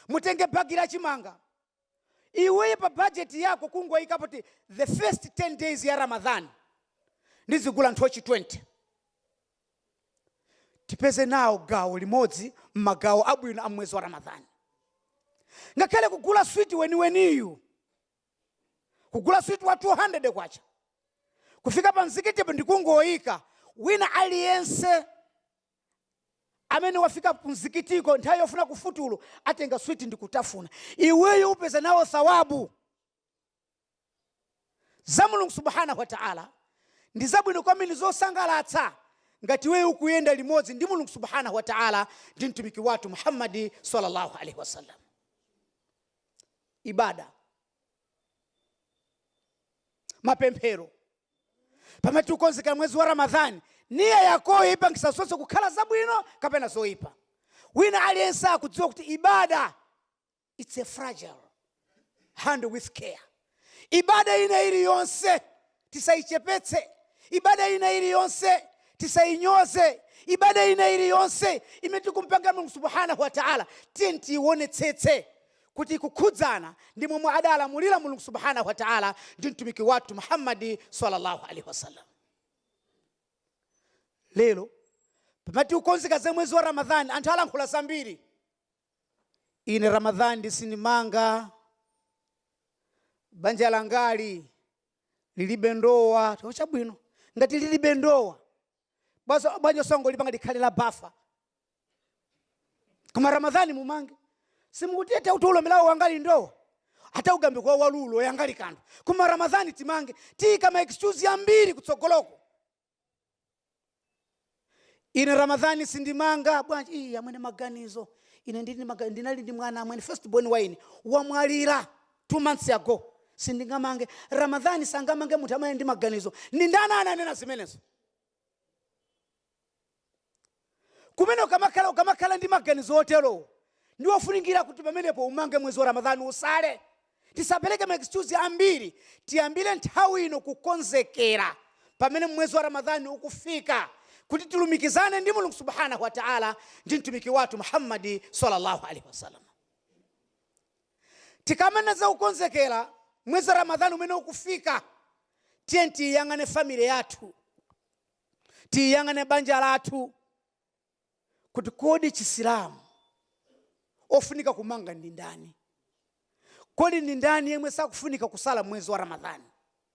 mutenge bagi la chimanga iweye pa bajeti yako kungoyika poti the first 10 days ya ramadhan ndizigula nthochi 20 tipeze nawo gawo limodzi m'magawo abwino a mwezi wa ramadhani ngakhale kugula switi weniweniyu kugula switi wa 200 kwacha kufika pa mzikitipo ndikungoyika wina aliyense amene wafika kumzikitiko nthawi yofuna kufutulu atenga switi ndikutafuna iweyo upeza nawo thawabu za mulungu subhanahu wataala ndi zabwino kwambiri zosangalatsa ngati iweyo ukuyenda limodzi ndi mulungu subhanahu wataala ndi mtumiki wathu muhammadi sallallahu alaihi wasallam ibada mapemphero pamene tikukonzekera mwezi wa ramadhani niya yakoyo ipangisa zonse kukhala zabwino kapena zoyipa wina aliyense akudziwa kuti ibada its a fragile handle with care ibada ina iliyonse tisayichepetse ibada ina iliyonse tisayinyoze ibada ina iliyonse imene tikumpangira mulungu subhanahu wa taala tiyeni tiyiwonetsetse kuti kukhudzana ndi momwe adalamulira Mulungu Subhaanah wa Ta'ala ndi Mtumiki wathu Muhammad sallallaahu alayhi wasallam. Lero pamene tikukonzekera za mwezi wa Ramadhan anthu alankhula zambiri. Ine Ramadhan nde sindimanga banja langali lilibe ndowa, chabwino ngati lilibe ndowa bwanji osangolipanga likhale la bafa koma ramadhani mumange simukuti ete kuti ulombelawo wangali ndowa ata ugambe kwa walulo yangali kandu koma ramadhani timange tiyika ma excuse ambiri kutsogoloko ine ramadhani sindimanga bwanji iyi amwene maganizo ine ndili maga- ndinali ndi mwana amwene first born wa ine wamwalira two months ago sindingamange ramadhani sangamange munthu amene ndi maganizo ndi ndani ananena zimenezo kumene ukamakhala ukamakhala ndi maganizo oterowo ndi ofunikira kuti pamenepo umange mwezi wa ramadhani usale tisapereke ma excuse ambiri tiyambire nthawi ino kukonzekera pamene mwezi wa ramadhani ukufika kuti tilumikizane ndi mulungu subhanahu wataala ndi mtumiki wathu muhammadi sallallahu alaihi wasallam Tikamanena za kukonzekera mwezi wa Ramadhan umene ukufika, tiyeni tiyiyang'ane family yathu, tiyang'ane banja lathu kuti kodi Chisilamu ofunika kumanga ndi ndani? Kodi ndi ndani yemwe sakufunika kusala mwezi wa Ramadhan?